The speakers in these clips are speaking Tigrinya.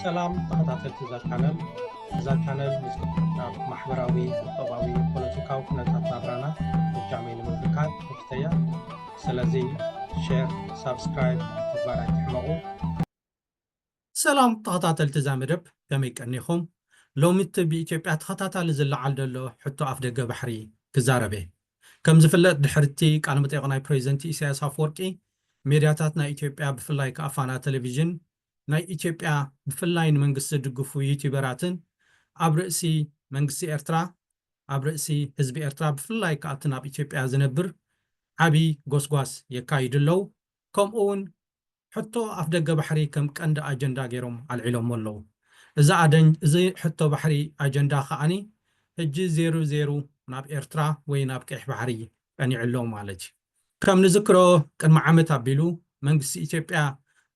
ሰላም ተኸታተልቲ እዛ ቻነል እዛ ቻነል ምስ ናብ ማሕበራዊ ቁጠባዊ ፖለቲካዊ ኩነታት ናብራና እጃመይ ንምብርካት ከፍተያ ስለዚ ሼር ሳብስክራይብ ምግባር ኣይትሕመቑ ሰላም ተኸታተልቲ እዛ መደብ ከመይ ቀኒኹም ሎሚ እቲ ብኢትዮጵያ ተኸታታሊ ዝለዓል ዘሎ ሕቶ ኣፍደገ ባሕሪ ክዛረብ እየ ከምዝፍለጥ ድሕሪ'ቲ ቃለመጠይቕ ናይ ፕረዚደንት ኢሳያስ ኣፍወርቂ፣ ሜድያታት ናይ ኢትዮጵያ ብፍላይ ከኣ ፋና ተለቪዥን፣ ናይ ኢትዮጵያ ብፍላይ ንመንግስቲ ዝድግፉ ዩቲበራትን ኣብ ርእሲ መንግስቲ ኤርትራ፣ ኣብ ርእሲ ህዝቢ ኤርትራ ብፍላይ ከኣ ኣብቲ ናብ ኢትዮጵያ ዝነብር ዓቢ ጎስጓስ የካይዱ ኣለዉ። ከምኡ'ውን ሕቶ ኣፍደገ ባሕሪ ከም ቀንዲ ኣጀንዳ ገይሮም ኣልዒሎሞ ኣለዉ። እዚ ኣደን እዚ ሕቶ ባሕሪ ኣጀንዳ ከኣኒ ሕጂ ዜሩ ዜሩ ናብ ኤርትራ ወይ ናብ ቀይሕ ባሕሪ ቀኒዑ ኣሎ ማለት እዩ። ከም ንዝክሮ ቅድሚ ዓመት ኣቢሉ መንግስቲ ኢትዮጵያ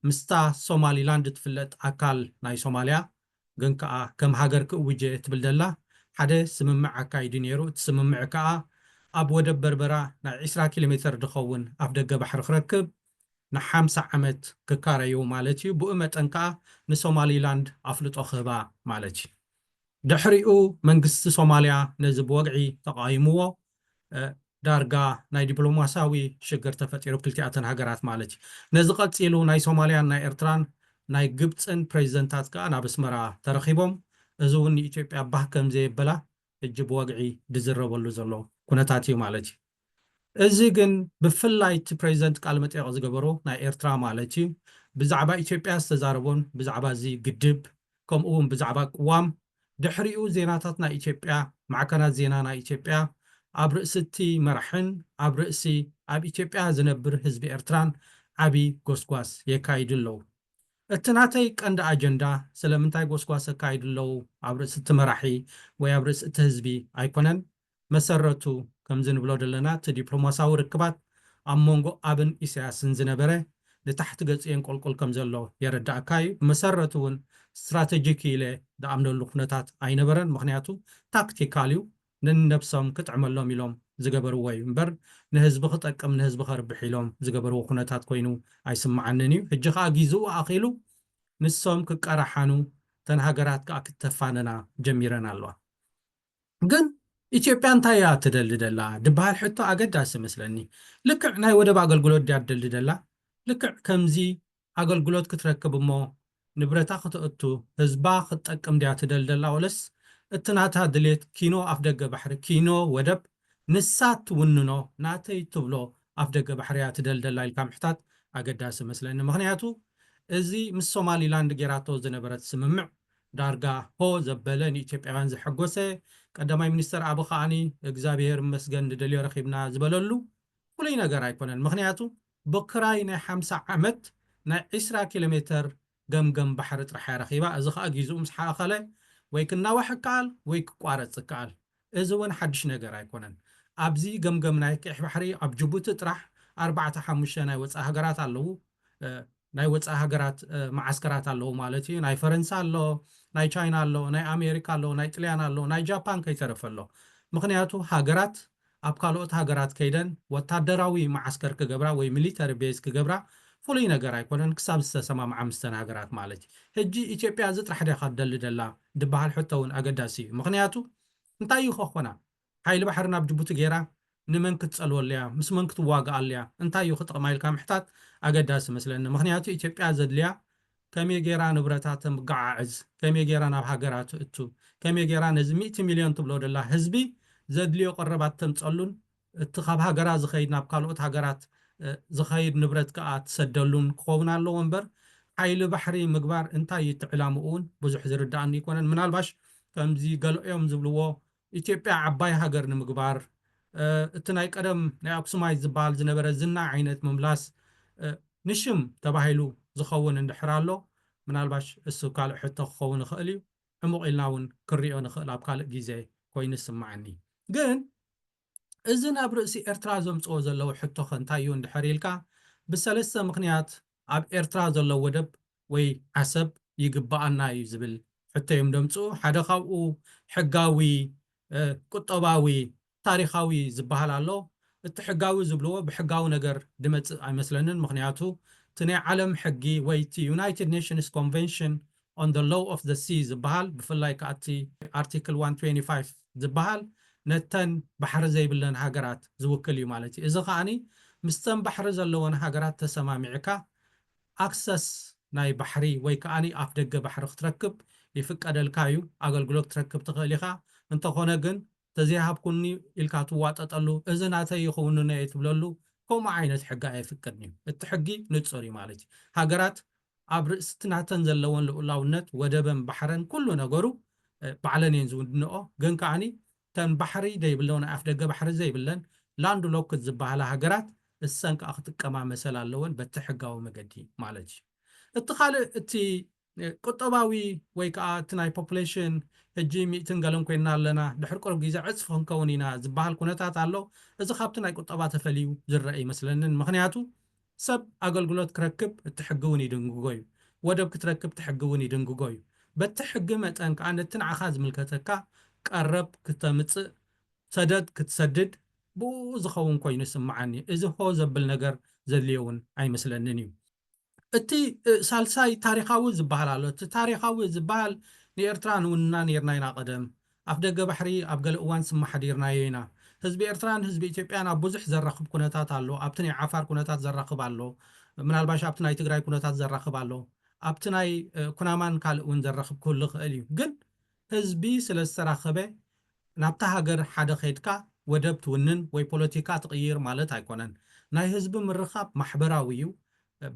ምስታ ሶማሊ ላንድ ትፍለጥ ኣካል ናይ ሶማልያ ግን ከኣ ከም ሃገር ክእውጅ እየ ትብል ዘላ ሓደ ስምምዕ ኣካይዱ ነይሩ። እቲ ስምምዕ ከኣ ኣብ ወደብ በርበራ ናይ ዕስራ ኪሎሜተር ዝኸውን ኣፍደገ ባሕሪ ክረክብ ንሓምሳ ዓመት ክካረዩ ማለት እዩ፣ ብኡ መጠን ከኣ ንሶማሊላንድ ኣፍልጦ ክህባ ማለት እዩ። ድሕሪኡ መንግስቲ ሶማልያ ነዚ ብወግዒ ተቓዊምዎ፣ ዳርጋ ናይ ዲፕሎማስያዊ ሽግር ተፈጢሩ ክልቲኣተን ሃገራት ማለት እዩ። ነዚ ቀጺሉ ናይ ሶማልያን ናይ ኤርትራን ናይ ግብጽን ፕረዚደንታት ከኣ ናብ ኣስመራ ተረኺቦም፣ እዚ እውን ንኢትዮጵያ ባህ ከምዘየበላ ሕጂ ብወግዒ ዝዝረበሉ ዘሎ ኩነታት እዩ ማለት እዩ። እዚ ግን ብፍላይ እቲ ፕረዚደንት ቃለመጠይቕ ዝገበሮ ናይ ኤርትራ ማለት እዩ ብዛዕባ ኢትዮጵያ ዝተዛረቦን ብዛዕባ እዚ ግድብ ከምኡውን ብዛዕባ ቅዋም ድሕሪኡ ዜናታት ናይ ኢትዮጵያ ማዕከናት ዜና ናይ ኢትዮጵያ ኣብ ርእሲ እቲ መራሕን ኣብ ርእሲ ኣብ ኢትዮጵያ ዝነብር ህዝቢ ኤርትራን ዓቢ ጎስጓስ የካይዱ ኣለዉ። እቲ ናተይ ቀንዲ ኣጀንዳ ስለምንታይ ጎስጓስ የካይዱ ኣለዉ ኣብ ርእሲ እቲ መራሒ ወይ ኣብ ርእሲ እቲ ህዝቢ ኣይኮነን መሰረቱ ከምዚ ንብሎ ደለና እቲ ዲፕሎማሳዊ ርክባት ኣብ መንጎ ኣብን ኢሳያስን ዝነበረ ንታሕቲ ገጹ የንቆልቁል ከም ዘሎ የረዳኣካ እዩ ብመሰረቱ ውን ስትራተጂክ እዩ ኢለ ድኣምነሉ ኩነታት ኣይነበረን ምኽንያቱ ታክቲካል እዩ ነንነብሶም ክጥዕመሎም ኢሎም ዝገበርዎ እዩ እምበር ንህዝቢ ክጠቅም ንህዝቢ ከርብሕ ኢሎም ዝገበርዎ ኩነታት ኮይኑ ኣይስማዓንን እዩ ሕጂ ከኣ ጊዝኡ ኣኺሉ ንሶም ክቀራሓኑ እተን ሃገራት ከኣ ክተፋነና ጀሚረን ኣለዋ። ግን ኢትዮጵያ እንታይ እያ እትደሊ ዘላ ዝብሃል ሕቶ ኣገዳሲ እመስለኒ። ልክዕ ናይ ወደብ ኣገልግሎት ድያ ትደሊ ዘላ? ልክዕ ከምዚ ኣገልግሎት ክትረክብ እሞ ንብረታ ክተእቱ ህዝባ ክትጠቅም ድያ ትደሊ ዘላ ወለስ እቲ ናታ ድሌት ኪኖ ኣፍደገ ባሕሪ ኪኖ ወደብ ንሳ እትውንኖ ናተይ እትብሎ ኣፍደገ ባሕሪ እያ ትደሊ ዘላ ኢልካ ምሕታት ኣገዳሲ እመስለኒ። ምኽንያቱ እዚ ምስ ሶማሊላንድ ጌራቶ ዝነበረት ስምምዕ ዳርጋ ሆ ዘበለ ንኢትዮጵያውያን ዘሐጎሰ ቀዳማይ ሚኒስተር ኣቢ ከኣ እግዛብሄር ይመስገን ንደልዮ ረኺብና ዝበለሉ ፍሉይ ነገር ኣይኮነን ምኽንያቱ ብክራይ ናይ ሓምሳ ዓመት ናይ ዕስራ ኪሎሜተር ገምገም ባሕሪ ጥራሕ እያ ረኺባ እዚ ከኣ ጊዝኡ ምስ ሓእኸለ ወይ ክናዋሕ እከኣል ወይ ክቋረጽ እከኣል እዚ ውን ሓድሽ ነገር ኣይኮነን ኣብዚ ገምገም ናይ ቅይሕ ባሕሪ ኣብ ጁቡቲ ጥራሕ ኣርባዕተ ሓሙሽተ ናይ ወጻኢ ሃገራት ኣለዉ ናይ ወጻኢ ሃገራት መዓስከራት ኣለዉ ማለት እዩ። ናይ ፈረንሳ ኣሎ፣ ናይ ቻይና ኣሎ፣ ናይ ኣሜሪካ ኣሎ፣ ናይ ጥልያን ኣሎ፣ ናይ ጃፓን ከይተረፈ ኣሎ። ምኽንያቱ ሃገራት ኣብ ካልኦት ሃገራት ከይደን ወታደራዊ መዓስከር ክገብራ ወይ ሚሊተሪ ቤዝ ክገብራ ፍሉይ ነገር ኣይኮነን ክሳብ ዝተሰማምዓ ምስተን ሃገራት ማለት እዩ። ሕጂ ኢትዮጵያ እዚ ጥራሕ ድያ ካብ ትደሊ ደላ ድበሃል ሕቶ እውን ኣገዳሲ እዩ። ምኽንያቱ እንታይ እዩ ከኾና ሓይሊ ባሕሪ ናብ ጅቡቲ ጌራ ንመን ክትጸልወሉ'ያ ምስ መን ክትዋግኣሉ'ያ እንታይ'ዩ ክጥቕማ ኢልካ ምሕታት ኣገዳሲ መስለኒ ምኽንያቱ ኢትዮጵያ ዘድልያ ከመይ ጌራ ንብረታ ተምጋዓዕዝ ከመይ ጌራ ናብ ሃገራ ትእቱ ከመይ ጌራ ነዚ ሚእቲ ሚልዮን ትብሎ ደላ ህዝቢ ዘድልዮ ቀረባት ተምጸሉን እቲ ካብ ሃገራ ዝኸይድ ናብ ካልኦት ሃገራት ዝኸይድ ንብረት ከኣ ትሰደሉን ክኸውን ኣለዎ እምበር ሓይሊ ባሕሪ ምግባር እንታይ'ዩ እቲ ዕላምኡ'ውን ብዙሕ ዝርድኣኒ ኣይኮነን ምናልባሽ ከምዚ ገለ'ዮም ዝብልዎ ኢትዮጵያ ዓባይ ሃገር ንምግባር እቲ ናይ ቀደም ናይ ኣክሱማይት ዝበሃል ዝነበረ ዝና ዓይነት ምምላስ ንሽም ተባሂሉ ዝኸውን እንድሕር ኣሎ ምናልባሽ እሱ ካልእ ሕቶ ክኸውን ይኽእል እዩ ዕሙቕ ኢልና እውን ክንሪኦ ንኽእል ኣብ ካልእ ጊዘ ኮይኑ ይስመዓኒ ግን እዚ ናብ ርእሲ ኤርትራ ዘምጽኦ ዘለዉ ሕቶኸ እንታይ እዩ እንድሕር ኢልካ ብሰለስተ ምኽንያት ኣብ ኤርትራ ዘሎ ወደብ ወይ ዓሰብ ይግበኣና እዩ ዝብል ሕቶ'ዮም ደምጽኡ። ሓደ ካብኡ ሕጋዊ፣ ቁጠባዊ፣ ታሪኻዊ ዝበሃል ኣሎ። እቲ ሕጋዊ ዝብልዎ ብሕጋዊ ነገር ዝመጽእ ኣይመስለንን። ምኽንያቱ እቲ ናይ ዓለም ሕጊ ወይ እቲ ዩናይትድ ኔሽንስ ኮንቨንሽን on the law of the sea ዝበሃል ብፍላይ ከኣ እቲ ኣርቲክል ዋን ትዌንቲ ፋይፍ ዝበሃል ነተን ባሕሪ ዘይብለን ሃገራት ዝውክል እዩ ማለት እዩ። እዚ ከኣ ምስተን ባሕሪ ዘለወን ሃገራት ተሰማሚዕካ ኣክሰስ ናይ ባሕሪ ወይ ከኣ ኣፍደገ ባሕሪ ክትረክብ ይፍቀደልካ እዩ፣ ኣገልግሎት ክትረክብ ትኽእል ኢኻ፣ እንተኾነ ግን ተዘይሃብኩኒ ኢልካ ትዋጠጠሉ እዚ ናተይ እዩ ክውንኖ እየ ትብለሉ ከምኡ ዓይነት ሕጊ ኣየፍቅድን እዩ እቲ ሕጊ ንፁር እዩ ማለት እዩ ሃገራት ኣብ ርእሲ እቲ ናተን ዘለወን ልኡላውነት ወደበን ባሕረን ኩሉ ነገሩ ባዕለን እየን ዝውንንኦ ግን ከዓኒ እተን ባሕሪ ዘይብለው ናይ ኣፍደገ ባሕሪ ዘይብለን ላንድ ሎክድ ዝበሃላ ሃገራት እሰን ከኣ ክጥቀማ መሰል ኣለወን በቲ ሕጋዊ መገዲ ማለት እዩ እቲ ካልእ እቲ ቁጠባዊ ወይ ከኣ እቲ ናይ ፖፑሌሽን ሕጂ ሚእትን ገለን ኮይንና ኣለና፣ ድሕሪ ቅሩብ ግዜ ዕጽፊ ክንከውን ኢና ዝበሃል ኩነታት ኣሎ። እዚ ካብቲ ናይ ቁጠባ ተፈልዩ ዝረኣ ኣይመስለንን። ምኽንያቱ ሰብ ኣገልግሎት ክረክብ እቲ ሕጊ እውን ይድንግጎ እዩ። ወደብ ክትረክብ እቲ ሕጊ እውን ይድንግጎ እዩ። በቲ ሕጊ መጠን ከኣ ነቲ ንዓኻ ዝምልከተካ ቀረብ ክተምጽእ፣ ሰደድ ክትሰድድ ብእኡ ዝኸውን ኮይኑ ይስመዓኒ። እዚ ሆ ዘብል ነገር ዘድልዮ እውን ኣይመስለንን እዩ። እቲ ሳልሳይ ታሪኻዊ ዝበሃል ኣሎ። እቲ ታሪኻዊ ዝበሃል ንኤርትራ ንውንና ነይርና ኢና ቀደም። ኣፍደገ ባሕሪ ኣብ ገለ እዋን ስም ኣሕዲርናዮ ኢና። ህዝቢ ኤርትራን ህዝቢ ኢትዮጵያን ኣብ ብዙሕ ዘራኽብ ኩነታት ኣሎ። ኣብቲ ናይ ዓፋር ኩነታት ዘራኽብ ኣሎ። ምናልባሽ ኣብቲ ናይ ትግራይ ኩነታት ዘራኽብ ኣሎ። ኣብቲ ናይ ኩናማን ካልእ እውን ዘራኽብ ክህሉ ይኸእል እዩ። ግን ህዝቢ ስለ ዝተራኸበ ናብታ ሃገር ሓደ ከይድካ ወደብ ትውንን ወይ ፖለቲካ ትቕይር ማለት ኣይኮነን። ናይ ህዝቢ ምርኻብ ማሕበራዊ'ዩ፣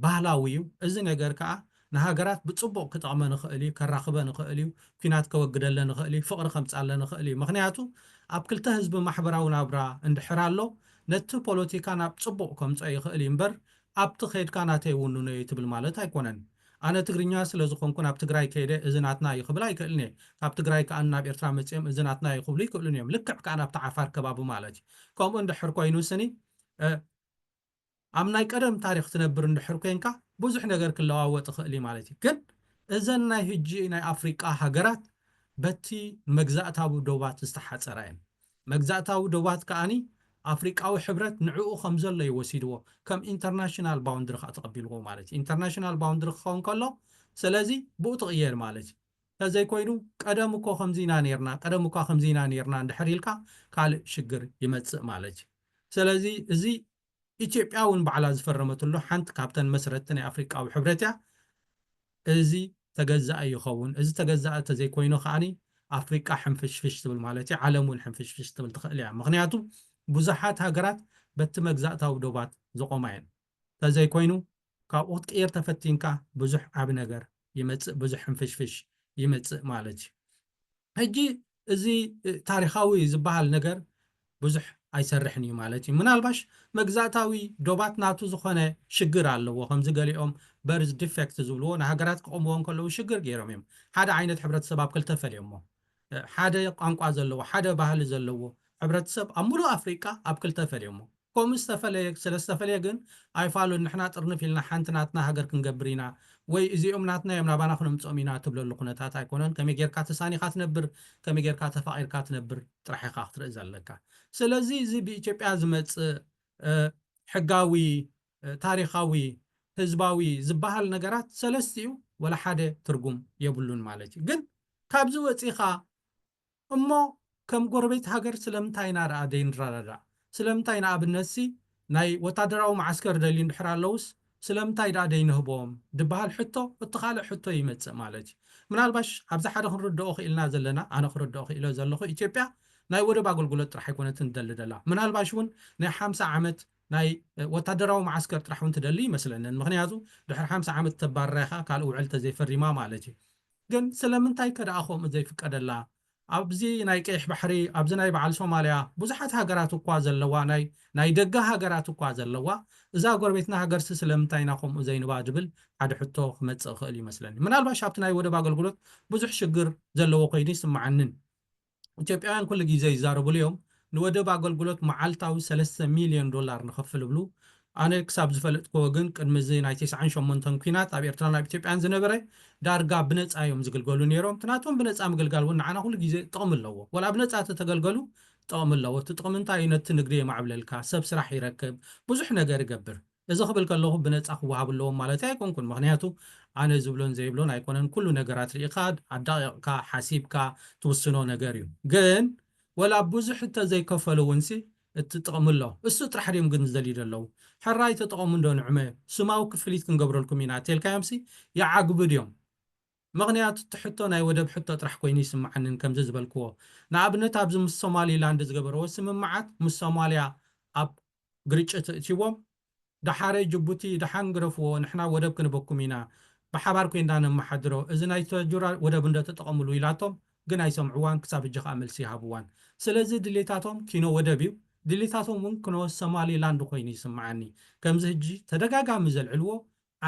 ባህላዊ'ዩ። እዚ ነገር ከኣ ንሃገራት ብጽቡቕ ክጠቕመን ይኽእል'ዩ፣ ከራኽበን ይኽእል'ዩ፣ ኲናት ከወግደለን ይኽእል'ዩ፣ ፍቕሪ ከምጽኣለን ይኽእል'ዩ። ምኽንያቱ ኣብ ክልተ ህዝቢ ማሕበራዊ ናብራ እንድሕር ኣሎ ነቲ ፖለቲካ ናብ ጽቡቕ ከምጽኦ ይኽእል'ዩ እምበር ኣብቲ ከይድካ ናተይ ውንኖ'ዩ ትብል ማለት ኣይኮነን። ኣነ ትግርኛ ስለ ዝኾንኩ ናብ ትግራይ ከይደ እዚ ናትና እዩ ክብል ኣይክእልን እየ። ካብ ትግራይ ከኣ ናብ ኤርትራ መጺኦም እዚ ናትና እዩ ክብሉ ይክእሉን እዮም። ልክዕ ከኣ ናብቲ ዓፋር ከባቢ ማለት እዩ። ከምኡ እንድሕር ኮይኑ ስኒ ኣብ ናይ ቀደም ታሪኽ ትነብር እንድሕር ኮንካ ብዙሕ ነገር ክለዋወጥ ይክእል እዩ ማለት እዩ። ግን እዘን ናይ ህጂ ናይ ኣፍሪቃ ሃገራት በቲ መግዛእታዊ ዶባት ዝተሓጸራ እየን። መግዛእታዊ ዶባት ከኣ ኣፍሪቃዊ ሕብረት ንዕኡ ከም ዘሎ እዩ ወሲድዎ፣ ከም ኢንተርናሽናል ባውንድሪ ከኣ ተቐቢልዎ ማለት እዩ። ኢንተርናሽናል ባውንድሪ ክኸውን ከሎ ስለዚ ብኡ ትቕየድ ማለት እዩ። እንተዘይ ኮይኑ ቀደም እኮ ከምዚ ኢና ኔርና፣ ቀደም እኳ ከምዚ ኢና ኔርና እንድሕር ኢልካ ካልእ ሽግር ይመጽእ ማለት እዩ። ስለዚ እዚ ኢትዮጵያ እውን ባዕላ ዝፈረመትሉ ሓንቲ ካብተን መስረትቲ ናይ ኣፍሪቃዊ ሕብረት እያ። እዚ ተገዛኢ ይኸውን። እዚ ተገዛኢ ተዘይኮይኑ ከኣ ኣፍሪቃ ሕንፍሽፍሽ ትብል ማለት እዩ፣ ዓለም እውን ሕንፍሽፍሽ ክትብል ትኽእል እያ። ምኽንያቱ ብዙሓት ሃገራት በቲ መግዛእታዊ ዶባት ዝቖማ እየን። ተዘይኮይኑ ካብኡ ክትቅይር ተፈቲንካ ብዙሕ ዓቢ ነገር ይመጽእ ብዙሕ ሕንፍሽፍሽ ይመጽእ ማለት እዩ ሕጂ እዚ ታሪኻዊ ዝበሃል ነገር ብዙሕ ኣይሰርሕን እዩ ማለት እዩ ምናልባሽ መግዛእታዊ ዶባት ናቱ ዝኾነ ሽግር ኣለዎ ከምዚ ገሊኦም በርዝ ዲፌክት ዝብልዎ ንሃገራት ክቆምዎ እንከለዉ ሽግር ገይሮም እዮም ሓደ ዓይነት ሕብረተሰብ ኣብ ክልተ ፈልዮሞ ሓደ ቋንቋ ዘለዎ ሓደ ባህሊ ዘለዎ ሕብረተሰብ ኣብ ሙሉእ ኣፍሪቃ ኣብ ክልተ ፈልዮሞ ኮም ዝተፈለየ ስለ ዝተፈለየ ግን ኣይፋሉን ንሕና ጥርንፍ ኢልና ሓንቲ ናትና ሃገር ክንገብር ኢና ወይ እዚኦም ናትና እዮም ናባና ክነምጽኦም ኢና ትብለሉ ኩነታት ኣይኮነን ከመይ ጌርካ ተሳኒኻ ትነብር ከመይ ጌርካ ተፋቂርካ ትነብር ጥራሕ ኢኻ ክትርኢ ዘለካ ስለዚ እዚ ብኢትዮጵያ ዝመጽእ ሕጋዊ ታሪኻዊ ህዝባዊ ዝባሃል ነገራት ሰለስቲኡ ወላ ሓደ ትርጉም የብሉን ማለት እዩ ግን ካብዚ ወጺኻ እሞ ከም ጎረቤት ሃገር ስለምንታይ ኢና ደኣ ዘይንረዳዳእ? ስለምንታይ ንኣብነትሲ ናይ ወታደራዊ መዓስከር ደልዩ እንድሕር ኣለዉስ ስለምንታይ ደኣ ዘይንህቦም? ድበሃል ሕቶ እቲ ካልእ ሕቶ ይመጽእ ማለት እዩ። ምናልባሽ ኣብዚ ሓደ ክንርደኦ ክኢልና ዘለና ኣነ ክርደኦ ክኢለ ዘለኹ ኢትዮጵያ ናይ ወደብ ኣገልግሎት ጥራሕ ኣይኮነትን ትደሊ ዘላ ምናልባሽ እውን ናይ ሓምሳ ዓመት ናይ ወታደራዊ መዓስከር ጥራሕ እውን ትደሊ ኣይመስለንን ምኽንያቱ ድሕሪ ሓምሳ ዓመት ተባርራ ኢኻ ካልእ ውዕል ተዘይፈሪማ ማለት እዩ። ግን ስለምንታይ ከ ደኣ ከምኡ ዘይፍቀደላ? ኣብዚ ናይ ቀይሕ ባሕሪ ኣብዚ ናይ በዓል ሶማልያ ብዙሓት ሃገራት እኳ ዘለዋ ናይ ናይ ደገ ሃገራት እኳ ዘለዋ እዛ ጎረቤትና ሃገርሲ ስለምንታይ ኢና ከምኡ ዘይንባ ዝብል ሓደ ሕቶ ክመጽእ ይኽእል ይመስለኒ። ምናልባሽ ኣብቲ ናይ ወደብ ኣገልግሎት ብዙሕ ሽግር ዘለዎ ኮይኑ ኣይስመዓንን። ኢትዮጵያውያን ኩሉ ግዜ ይዛረብሉ እዮም ንወደብ ኣገልግሎት መዓልታዊ ሰለስተ ሚልዮን ዶላር ንኸፍል እብሉ ኣነ ክሳብ ዝፈለጥክዎ ግን ቅድሚ እዚ ናይ ተስዓን ሸሞንተን ኩናት ኣብ ኤርትራን ኣብ ኢትዮጵያን ዝነበረ ዳርጋ ብነጻ እዮም ዝግልገሉ ኔሮም እቲ ናቶም ብነጻ ምግልጋል ውን ንዓና ኩሉ ግዜ ጥቕሚ ኣለዎ ዋላ ብነጻ ተተገልገሉ ጥቕሚ ኣለዎ እቲ ጥቕሚ እንታይ እዩ ነቲ ንግዲ የማዕብለልካ ሰብ ስራሕ ይረክብ ብዙሕ ነገር ይገብር እዚ ክብል ከለኹ ብነጻ ክወሃቡ ኣለዎም ማለተይ ኣይኮንኩን ምኽንያቱ ኣነ ዝብሎን ዘይብሎን ኣይኮነን ኩሉ ነገራት ርኢኻ ኣዳቒቕካ ሓሲብካ ትውስኖ ነገር እዩ ግን ወላ ብዙሕ እንተዘይከፈሉ እውንሲ እቲ ጥቕሚ ኣሎ እሱ ጥራሕ ድዮም ግን ዝደልዩ ዘለዉ ሕራይ ተጠቐሙ እንዶ ንዕመ ስማዊ ክፍሊት ክንገብረልኩም ኢና እተልካዮምሲ ይዓግቡ ድዮም ምኽንያቱ እቲ ሕቶ ናይ ወደብ ሕቶ ጥራሕ ኮይኑ ይስምዓኒ ንከምዚ ዝበልክዎ ንኣብነት ኣብዚ ምስ ሶማሊ ላንድ ዝገበርዎ ስምምዓት ምስ ሶማልያ ኣብ ግርጭት እእትይዎም ዳሓረ ጅቡቲ ዳሓን ግረፍዎ ንሕና ወደብ ክንበኩም ኢና ብሓባር ኮይንዳ ነማሓድሮ እዚ ናይ ተጁራ ወደብ እንዶ ተጠቀምሉ ኢላቶም ግን ኣይሰምዕዋን ክሳብ እጂ ካኣ መልሲ ይሃብዋን ስለዚ ድሌታቶም ኪኖ ወደብ እዩ ድሌታቶም ውን ክኖ ሰማሊ ላንድ ኮይኑ ይስማዓኒ ከምዚ ህጂ ተደጋጋሚ ዘልዕልዎ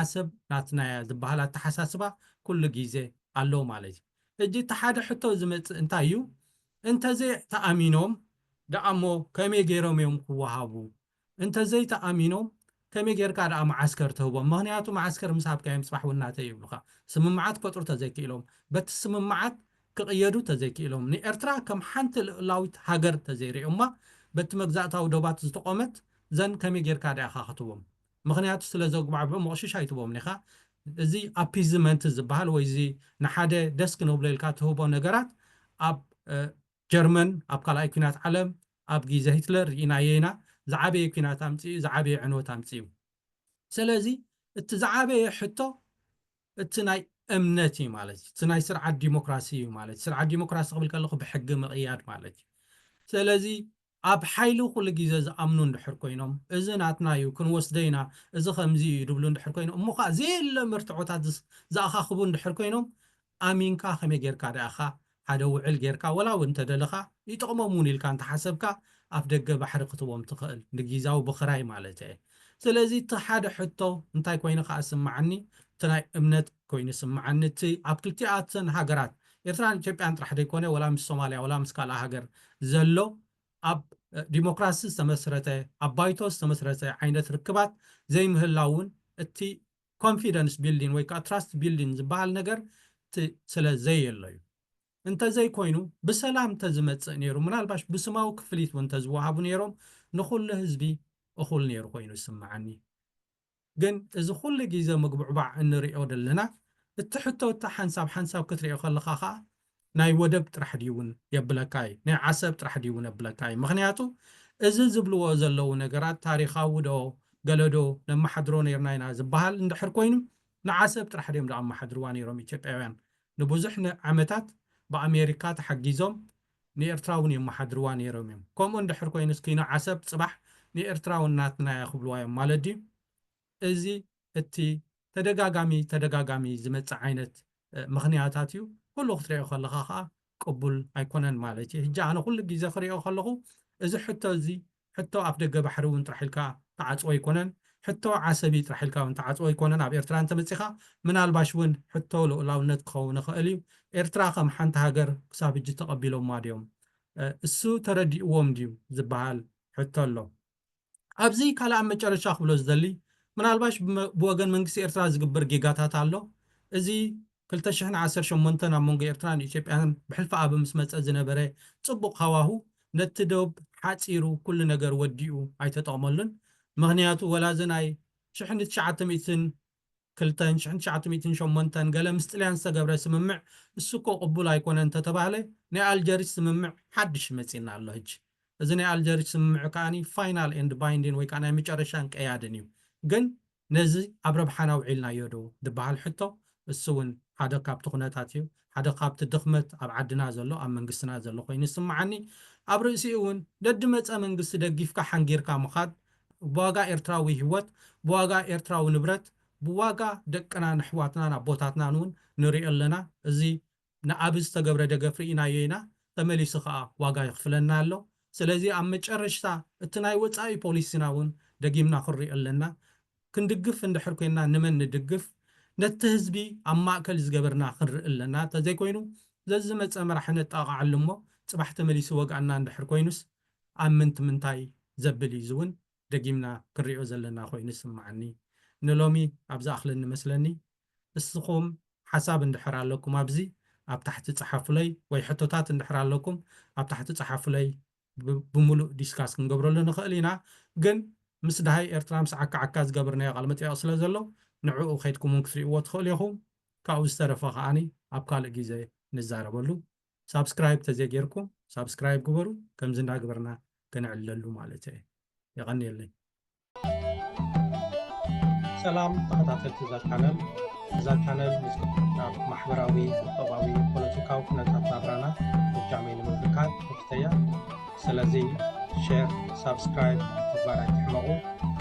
ዓሰብ ናትና እያ ዝባሃል ኣታሓሳስባ ኩሉ ጊዘ ኣሎ ማለት እዩ ሕጂ እቲ ሓደ ሕቶ ዝመጽእ እንታይ እዩ እንተዘይ ተኣሚኖም ዳኣ እሞ ከመይ ገይሮም እዮም ክዋሃቡ እንተዘይ ተኣሚኖም ከመይ ገይርካ ዳኣ ማዓስከር ትህቦም ምክንያቱ ማዓስከር ምስ ሃብካዮም ጽባሕ ውን ናተይ ይብሉካ ስምምዓት ክፈጥሩ ተዘይ ክኢሎም በቲ ስምምዓት ክቅየዱ ተዘይ ክኢሎም ንኤርትራ ከም ሓንቲ ልኡላዊት ሃገር ተዘይ ሪኦማ በቲ መግዛእታዊ ዶባት ዝተቆመት ዘን ከመይ ገይርካ ዳኣ ኢካ ክትህቦም ምኽንያቱ ስለ ዘጉባዕብዑ ምቕሽሽ ኣይትቦምን ኢኻ። እዚ ኣፒዝመንት ዝበሃል ወይ እዚ ንሓደ ደስ ክነብሎ ኢልካ ትህቦ ነገራት ኣብ ጀርመን ኣብ ካልኣይ ኲናት ዓለም ኣብ ጊዘ ሂትለር ርኢናዮ ኢና። ዝዓበየ ኲናት ኣምጺኡ ዝዓበየ ዕንወት ኣምጺኡ። ሰለዚ እቲ ዝዓበየ ሕቶ እቲ ናይ እምነት እዩ ማለት እዩ። እቲ ናይ ስርዓት ዲሞክራሲ እዩ ማለት እዩ። ስርዓት ዲሞክራሲ ክብል ከለኹ ብሕጊ ምቕያድ ማለት እዩ። ሰለዚ ኣብ ሓይሊ ኩሉ ግዜ ዝኣምኑ እንድሕር ኮይኖም፣ እዚ ናትና እዩ፣ ክንወስዶ ኢና፣ እዚ ከምዚ እዩ ዝብሉ እንድሕር ኮይኖም፣ እሞ ከኣ ዘየለ መርትዖታት ዝኣኻኽቡ እንድሕር ኮይኖም፣ ኣሚንካ ከመይ ጌርካ ደኣ ኢኻ ሓደ ውዕል ጌርካ ወላ እውን እንተ ደለኻ ይጠቕሞም እውን ኢልካ እንተ ሓሰብካ ኣፍ ደገ ባሕሪ ክትቦም ትኽእል፣ ንጊዛዊ ብኽራይ ማለተይ እየ። ስለዚ እቲ ሓደ ሕቶ እንታይ ኮይኑ ከኣ ዝስመዓኒ እቲ ናይ እምነት። ኮይኑ ይስምዓኒ እቲ ኣብ ክልቲኣተን ሃገራት ኤርትራን ኢትዮጵያን ጥራሕ ዘይኮነ ወላ ምስ ሶማልያ ወላ ምስ ካልኣ ሃገር ዘሎ ኣብ ዲሞክራሲ ዝተመስረተ ኣብ ባይቶ ዝተመስረተ ዓይነት ርክባት ዘይምህላውን እቲ ኮንፊደንስ ቢልዲን ወይ ከኣ ትራስት ቢልዲን ዝበሃል ነገር እቲ ስለ ዘየሎ እዩ እንተዘይኮይኑ ብሰላም እንተዝመጽእ ነይሩ ምናልባሽ ብስማዊ ክፍሊት እውን እንተዝወሃቡ ነይሮም ንኹሉ ህዝቢ እኹል ነይሩ ኮይኑ ይስምዓኒ ግን እዚ ኩሉ ጊዘ ምጉብዕባዕ እንርእዮ ደለና እቲ ሕቶ እታ ሓንሳብ ሓንሳብ ክትርእዮ ከለኻ ከኣ ናይ ወደብ ጥራሕ ድዩ ውን የብለካ እዩ ናይ ዓሰብ ጥራሕ ድዩ ውን የብለካ እዩ ምኽንያቱ እዚ ዝብልዎ ዘለዉ ነገራት ታሪኻዊ ዶ ገለ ዶ ነማሓድሮ ነርና ኢና ዝባሃል እንድሕር ኮይኑ ንዓሰብ ጥራሕ ድዮም ዘኣማሓድርዋ ነሮም ኢትዮጵያውያን ንቡዙሕ ዓመታት ብኣሜሪካ ተሓጊዞም ንኤርትራ ውን የማሓድርዋ ኔሮም እዮም ከምኡ እንድሕር ኮይኑስ ኪኖ ዓሰብ ጽባሕ ንኤርትራ ውን ናትና እያ ክብልዋ እዮም ማለት ድዩ እዚ እቲ ተደጋጋሚ ተደጋጋሚ ዝመጽእ ዓይነት ምኽንያታት እዩ ኩሉ ክትሪኦ ከለኻ ከኣ ቅቡል ኣይኮነን ማለት እዩ ህጂ ኣነ ኩሉ ጊዘ ክሪኦ ከለኹ እዚ ሕቶ እዚ ሕቶ ኣፍደገ ባሕሪ እውን ጥራሕ ኢልካ ትዓጽዎ ኣይኮነን፣ ሕቶ ዓሰቢ ጥራሕ ኢልካ እውን ትዓጽዎ ኣይኮነን፣ ኣብ ኤርትራ እንተመጺኻ ምናልባሽ እውን ሕቶ ልኡላውነት ክኸውን ይኸእል እዩ፣ ኤርትራ ከም ሓንቲ ሃገር ክሳብ ሕጂ ተቐቢሎማ ድዮም? እሱ ተረዲኡዎም ድዩ? ዝበሃል ሕቶ ኣሎ። ኣብዚ ካልእ ኣብ መጨረሻ ክብሎ ዝደሊ ምናልባሽ ብወገን መንግስቲ ኤርትራ ዝግበር ጌጋታት ኣሎ፣ እዚ ክልተ ሽሕን ዓሰርተ ሸሞንተን ኣብ መንጎ ኤርትራን ኢትዮጵያን ብሕልፊ ኣቢ ምስ መጸ ዝነበረ ጽቡቕ ሃዋሁ ነቲ ዶብ ሓጺሩ ኩሉ ነገር ወዲኡ ኣይተጠቕመሉን ምኽንያቱ ወላ እዚ ናይ ሽሕን ትሽዓተ ሚእትን ክልተን ሽሕን ትሽዓተ ሚእትን ሸሞንተን ገለ ምስ ጥልያን ዝተገብረ ስምምዕ እሱ እኮ ቅቡል ኣይኮነን እንተተባህለ ናይ ኣልጀሪስ ስምምዕ ሓድሽ መጺና ኣሎ ህጂ እዚ ናይ ኣልጀሪስ ስምምዕ ከኣ ፋይናል ኤንድ ባይንዲን ወይ ከኣ ናይ መጨረሻን ቀያድን እዩ ግን ነዚ ኣብ ረብሓና ኣውዒልናዮ ዶ ዝበሃል ሕቶ እሱ ውን ሓደ ካብቲ ኩነታት እዩ። ሓደ ካብቲ ድኽመት ኣብ ዓድና ዘሎ ኣብ መንግስትና ዘሎ ኮይኑ ይስምዓኒ። ኣብ ርእሲኡ ውን ደድመጸ መንግስቲ ደጊፍካ ሓንጊርካ ምኻድ ብዋጋ ኤርትራዊ ሂወት፣ ብዋጋ ኤርትራዊ ንብረት፣ ብዋጋ ደቅናን ኣሕዋትናን ኣቦታትናን ውን ንሪኦ ኣለና። እዚ ንኣቢ ዝተገብረ ደገፍ ርኢናዮ ኢና ተመሊሱ ከኣ ዋጋ የኽፍለና ኣሎ ስለዚ ኣብ መጨረሽታ እቲ ናይ ወጻኢ ፖሊሲና ውን ደጊምና ክንሪኦ ኣለና ክንድግፍ እንድሕር ኮይና ንመን ንድግፍ ነቲ ህዝቢ ኣብ ማእከል ዝገበርና ክንርኢ ኣለና ተዘይኮይኑ ዘዝመጸ መራሒ ነጣቕዓሉ እሞ ጽባሕ ተመሊሱ ወግኣና እንድሕር ኮይኑስ ኣብ ምንት ምንታይ ዘብል እዩ እዚ ውን ደጊምና ክንሪኦ ዘለና ኮይኑ ይስማዓኒ ንሎሚ ኣብ ዝኣኽለኒ መስለኒ እስኹም ሓሳብ እንድሕር ኣለኩም ኣብዚ ኣብ ታሕቲ ጸሓፉለይ ወይ ሕቶታት እንድሕር ኣለኩም ኣብ ታሕቲ ጸሓፉለይ ብምሉእ ዲስካስ ክንገብረሉ ንኽእል ኢና ግን ምስ ድሃይ ኤርትራ ምስ ዓካ ዓካ ዝገበርናዮ ቃል መጠየቕ ስለ ዘሎ ንዕኡ ከድኩም ውን ክትሪእዎ ትኽእሉ ኢኹም ካብኡ ዝተረፈ ከኣ ኣብ ካልእ ግዜ ንዛረበሉ ሳብስክራይብ ተዘይጌርኩም ሳብስክራይብ ግበሩ ከምዚ እንዳገበርና ከነዕልለሉ ማለት እየ የቀንየለይ ሰላም ተኸታተልቲ እዛ ቻነል እዛ ቻነል ናብ ማሕበራዊ ቁጠባዊ ፖለቲካዊ ኩነታት ናብራና ብጃመይ ንምብርካት ተፍተያ ስለዚ ሼር ሳብስክራይብ ምግባር ኣይትሕመቑ